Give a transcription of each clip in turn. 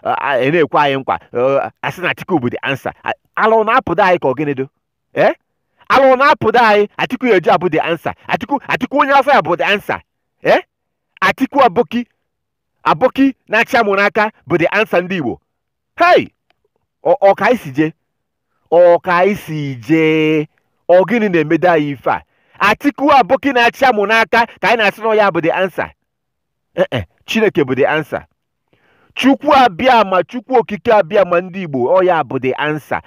ị na-ekwe anyị nkwa asị na Atiku bụ the answer ala ọ na-apụdo anyị ka ọ gịnịdo ee ala ọ na-apụdo anyị Atiku ya eji abụ the answer Atiku Atiku onye afọ ya bụ the answer ee Atiku Aboki Aboki na-achị amụ n'aka bụ the answer ndị Igbo hei ọ ka i si jee ọ ka i si jee ọ gịnị na-emedo anyị ife a Atiku Aboki na-achị amụ n'aka ka anyị na-asị na ya bụ the answer ee e, chineke bụ the answer chukwu abịama chukwu okike abịama ndị igbo ọ ya bụ the answer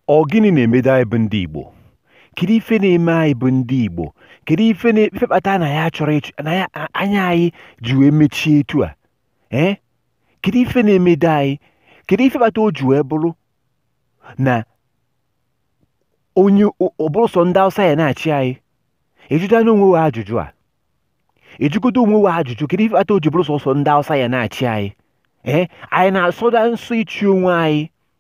ọ gịnị na-emedo anyị bụ ndị Igbo kedu ife na-eme anyị bụ ndị Igbo kedu ife na-efe kpata na ya chọrọ ịchụ na ya anya anyị ji wee mechie etu a ee kedu ife na-emedo anyị kedu ife kpata o ji wee bụrụ na onye ọ bụrụ sọ ndị Hausa ya na-achị anyị ị jụdana onwe ajụjụ a ị jụgodo onwe we ajụjụ kedu ife kpata o ji bụrụ sọsọ ndị Hausa ya na-achị anyị ee anyị na-asọda nsọ ịchị onwe anyị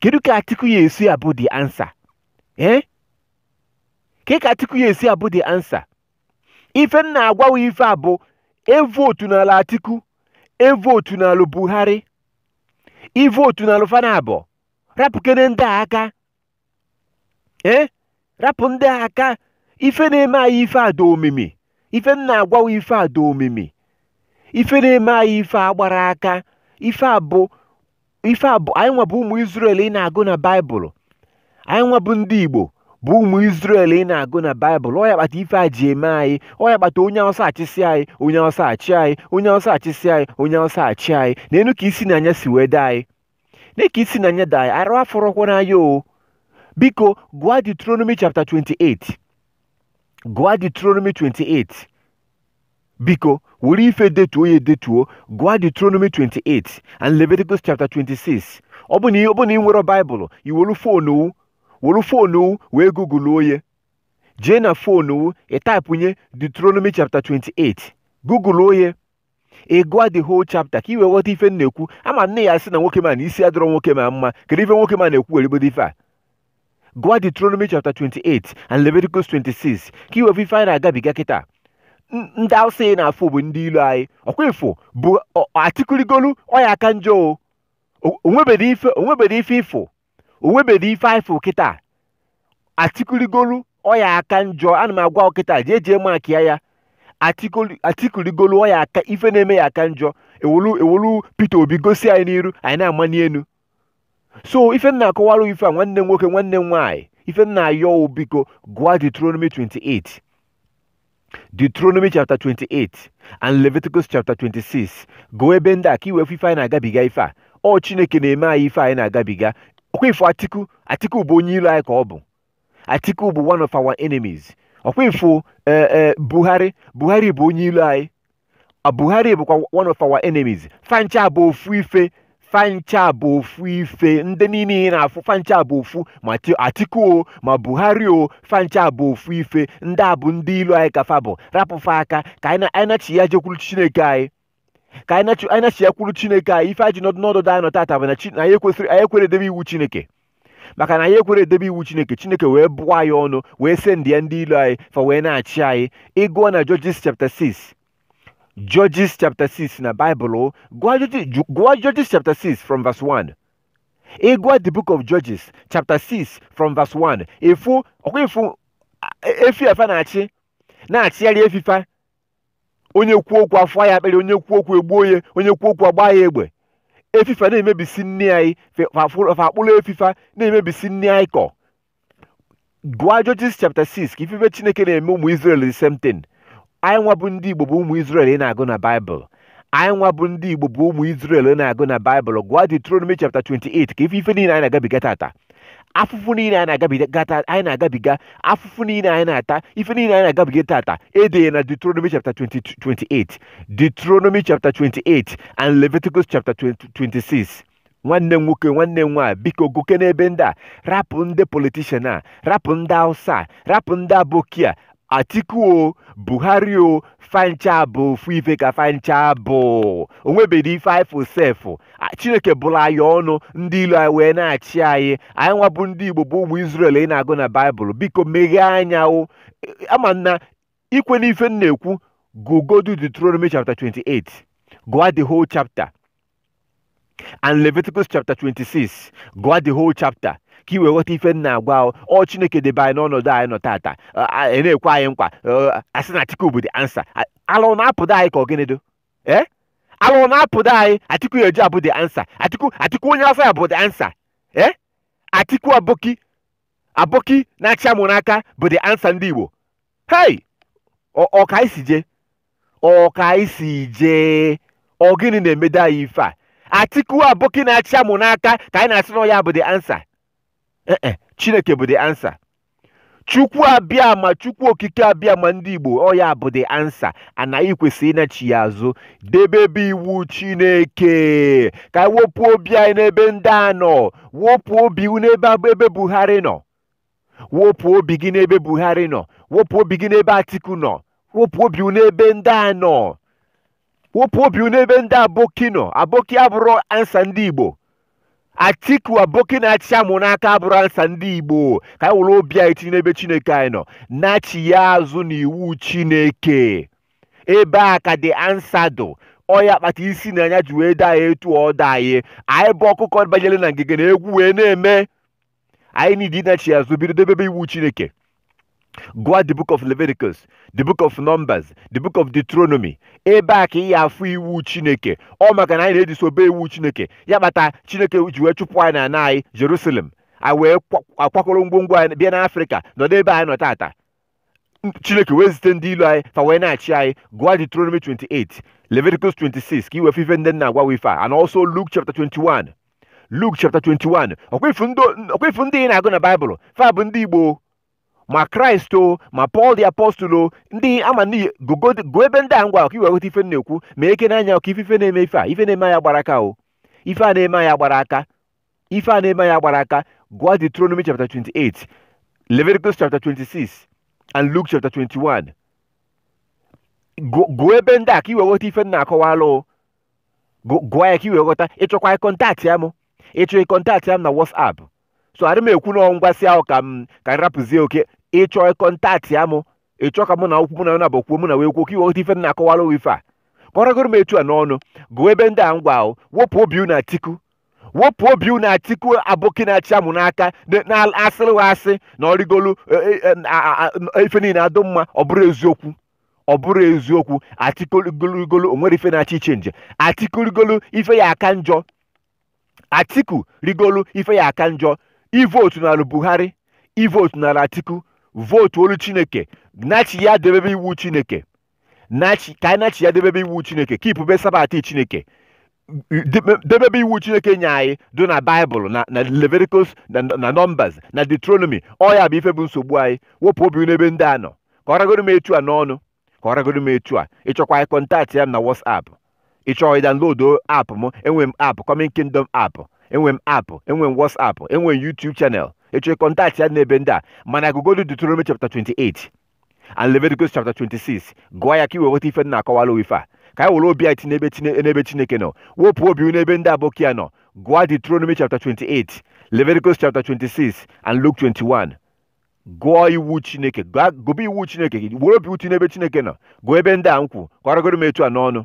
kedu ka atiku ya esi abụ the answer ee ke ka atiku ya esi abụ the answer ife m na-agwawa ife a bụ evotunalụ atiku evotunalụ buhari evotunalụ fa n'abụọ rapụkene ndị a aka ee rapụ ndị a aka ife na-eme anyị ife a dị omimi ife m na-agwawa ife ada omimi ife na-eme anyị ife a agbarọ aka ife a bụ ife a bụ anyị nwa bụ ụmụ Izrel ị na-agụ na baịbụl anyị nwa bụ ndị Igbo bụ ụmụ Izrel ị na-agụ na baịbụl ọ ya kpata ife a ji eme anyị ọ ya kpata onye ọ sọ achịsị anyị onye ọ sọ achị anyị onye ọ sọ achịsị anyị onye ọ sọ achị anyị neenụ ka isi na anya si wee dee anyị nee ka isi na anya daa arụ afọrọkwa n'anya o biko gụọ Deuteronomy chapter 28 gụọ Deuteronomy 28 biko were ife detuo ya edetuo gụọ Deuteronomy 28 and Leviticus chapter 26 ọ bụ na ị- ọ bụ na i nwerọ baịbụl i were foonu were foonu wee gụgụluo ya jee na foonu ị taịpụnye Deuteronomy chapter 28 gụgụluo ya ị gụọ the whole chapter ka i wee ghọta ife m na-ekwu ama m na ị ya-asị na nwokem a na isi adịrọ nwokem a mma kedu ife nwokem a na-ekwu weregodo ife a gụọ Deuteronomy chapter 28 and Leviticus 26 ka i wee ife anyị na-agabiga kịta ndị awụsa ị na-afụ bụ ndị ilo anyị ọkwa ife ọ bụ Atiku rigolu ọ ya-aka njọ o nwebedị ife o nwebedị ife ị fụ o nwebedị ife anyị fụ kịta Atiku rigolu ọ ya-aka njọ ana m agwa ụ kịta jee jee makịa ya Atiku li- Atiku rigolu ọ ya-aka ife na-eme ya-aka njọ ewolu ewolu Peter Obi gosi anyị n'iru anyị na-amani enu so ife m na-akọwara ife a nwanne m nwoke nwanne m nwaanyị ife m na-ayọ wụ biko gụọ Deuteronomy 28 Deuteronomy chapter 28 and Leviticus chapter 26 gụọ ebe ndị a ka i wee fụ ife anyị na-agabiga ife a ọ Chineke na-eme anyị ife anyị na-agabiga ọkwa ị fụ Atiku Atiku bụ onye ilo anyị ka ọ bụ Atiku bụ one of our enemies ọkwa ị fụ eh, eh, Buhari Buhari bụ onye ilo anyị a Buhari bụkwa one of our enemies fa ncha bụ ofu ife fa ncha bụ ofu ife ndị niile ị na-afụ fa ncha bụ ofu ma Ti- Atiku o ma Buhari o fa ncha bụ ofu ife ndị a bụ ndị ilo anyị ka fa bụ rapụ fa aka ka anyị na- anyị nachịa jekwuru Chineke anyị ka anyị nachi- anyị nachịa kwuru Chineke anyị ife anyị ji nọdụ n'ọdụ anyị nọ tata bụ na Chi- na anyị ekwesịrị anyị ekwere edebe iwu Chineke maka na anyị ekwere edebe iwu chineke chineke wee bụọ anyị ọnụ wee sendịa ndị ilo anyị fa wee na-achị anyị ị gụọ na judges chapter 6 judges chapter 6 na bible gụọ judges chapter 6 from verse 1 ị gụọ the book of judges chapter 6 from verse 1 ị fụ ọkwa ị fụ efi a fa na-achị na-achịgharị efi fa onye kwuo okwu afọ ya akpịrị onye kwuo okwu egbuo ya onye kwuo okwu agbaa ya egbe efi fa na-emebisi nni anyị fa akpụrụ efi fa na-emebisi nni anyị kọ gụọ Judges chapter 6 ka ị fụ ife chineke na-eme ụmụ Israel the same thing anyị nwa bụ ndị Igbo bụ ụmụ Israel ị na-agụ na Baịbụl anyị nwa bụ ndị igbo bụ ụmụ Izrel ị na-agụ na baịbụl gụọ Deuteronomy chapter 28 ka ị fụ ife niile anyị na-agabiga tata afụfụ niile anyị na-agabiga afụfụ niile anyị na-ata ife niile anyị na-agabiga tata e de ya na Deuteronomy chapter 28 Deuteronomy chapter 28 and Leviticus chapter 26 nwanne m nwoke nwanne m nwaanyị biko gụkene ebe ndị a rapụ ndị politishan a rapụ ndị hausa a rapụ ndị aboki a atiku o buhari o fa ncha bụ ofu ife ka fa ncha bụ o nwebedị ife anyị fụ sef A- chineke bụrụ anyị ọnụ ndị ilo anyị wee na-achị anyị anyị nwa bụ ndị igbo bụ ụmụ israel ị na-agụ na baịbụl biko meghee anya o E- ama m na i kwe n'ife m na-ekwu gụgodu deuteronomy chapter 28 gụọ the whole chapter and leviticus chapter 26 gụọ the whole chapter ka i wee ghọta ife m na-agwa ụ ọ chineke debe anyị n'ọnọdụ anyị nọ tata ị na-ekwe anyị nkwa asị na atiku bụ the answer ala na-apụdị anyị ka ọ gịnị do ee ala na-apụdị anyị atiku ya-eji abụ the answer atiku atiku onye afọ ya bụ the answer ee atiku aboki aboki na-achị amụ n'aka bụ the answer ndị igbo hei ọ ka anyị si jee ọ ka anyị si jee ọ gịnị na-emede anyị ife a atiku aboki na-achị amụ n'aka ka anyị na-asị na ọ ya bụ the answer Eh, eh, chineke bụ the answer chukwu abịama chukwu okike abịama ndị igbo ọ ya bụ the answer anyị kwesịrị ịnachi ya azụ debebe iwu chineke ka anyị wepụ obi anyị n'ebe ndị a nọ wepụ obi unu n'ebe buhari nọ wepụ obi gị n'ebe buhari nọ wepụ obi gị n'ebe atiku nọ wepụ obi n'ebe ndị a nọ wepụ obi n'ebe ndị aboki nọ aboki abụrọ answer ndị igbo atiku aboki na-achị amụ n'aka abụrọ answer ndị igbo ka anyị were obi anyị tinye n'ebe chineke anyị nọ nachi ya azụ n'iwu chineke ebe a ka the answer dụ ọ ya kpata isi na anya ji wee dị anyị etu ọ dị anyị anyị bụ ọkụkọ banyere na ngige na egwu wee na-eme anyị need ịnachi azụ bido debebe iwu chineke gụọ the book of leviticus the book of numbers the book of deuteronomy ebe a ka ị ya-afụ iwu chineke ọ maka na anyị na-edisobey iwu chineke ya kpata chineke ji wee chụpụ anyị n'ana anyị jerusalem anyị wee kwa- kwakọrọ ngwongwo anyị bịa n'afrịka nọdụ ebe anyị nọ tata chineke wee zite ndị ilu anyị fa wee na-achị anyị gụọ Deuteronomy 28 Leviticus 26 ka i wee fụ ife ndị m na-agwa ife a and also Luke chapter 21 Luke chapter 21 ọ kwa ị fụ ndị ị na-agụ na Baịbụl fa bụ ndị Igbo ma Christ o ma Paul the apostle o ndị ama n'iyi gụọ ebe ndị a m gwa ụ ka i wee ghọta ife m na-ekwu ma eke n'anya ka ị fụ ife na-eme ife a ife na-eme anyị agbarọ aka o ife a na-eme anyị agbarọ aka ife a na-eme anyị agbarọ aka gụọ Deuteronomy chapter 28 Leviticus chapter 26 and Luke chapter 21 gụọ ebe ndị a ka i wee ghọta ife m na-akọwalụ gụọ ya ka i wee ghọta ị chọkwa ịkọntaktịa m ị chọọ ịkọntaktịa m na WhatsApp so adị m ekwu na ngwasị ahụ ka m ka m rapụzie okay ị chọọ ịkọntaktịa m ị chọọ ka mụ na gụ kwuo mụ na na gụ kwuo mụ na wee kwuo ka i wee ghọta ife m na-akọwalụ ife a ka ọ ragoro m etu a n'ọnụ gụọ ebe ndị a m gwa gụ wepụ obi na atiku wepụ obi unu atiku aboki na-achị amụ n'aka na- na-asịrị wa asị na o rigolu eh, eh, eh, a- a- a- ife niile adụ mma ọ bụrọ eziokwu ọ bụrọ eziokwu atiku rigolu o nwerọ ife na-achọ ịchenji atiku rigolu ife ya-aka njọ atiku rigolu ife ya-aka njọ evotunara buhari evotunara atiku votuolu chineke nachi ya debebe iwu chineke nachi ka anyị nachi ya debebe iwu chineke keepube sabbath chineke debe- debebe iwu chineke nye anyị dị na baịbụl na na leviticus na na numbers na deuteronomy ọ ya bụ ife bụ nsogbu anyị wepụ obi n'ebe ndị a nọ ka ọ ragoro m etu a n'ọnụ ka ọ ragoro m etu a ị chọkwa ịkọntaktịa m na whatsapp ị chọọ ịdownload app m enwe m app coming kingdom app enwe m app enwe m whatsapp enwe m youtube channel ị chọọ kọntaktịa m n'ebe ndị a mana gụgodu deuteronomy chapter 28 and Leviticus chapter 26 gụọ ya ka i wee ghọta ife m na-akọwara gị ife a ka anyị were obi anyị tinye n'ebe chineke nọ wepụ obi n'ebe ndị aboki ya nọ gụọ Deuteronomy chapter 28 Leviticus chapter 26 and Luke 21 gụọ iwu chineke gụba iwu chineke were obi tii n'ebe chineke nọ gụọ ebe ndị a m kwu ka ọ ragodu m etu a n'ọnụ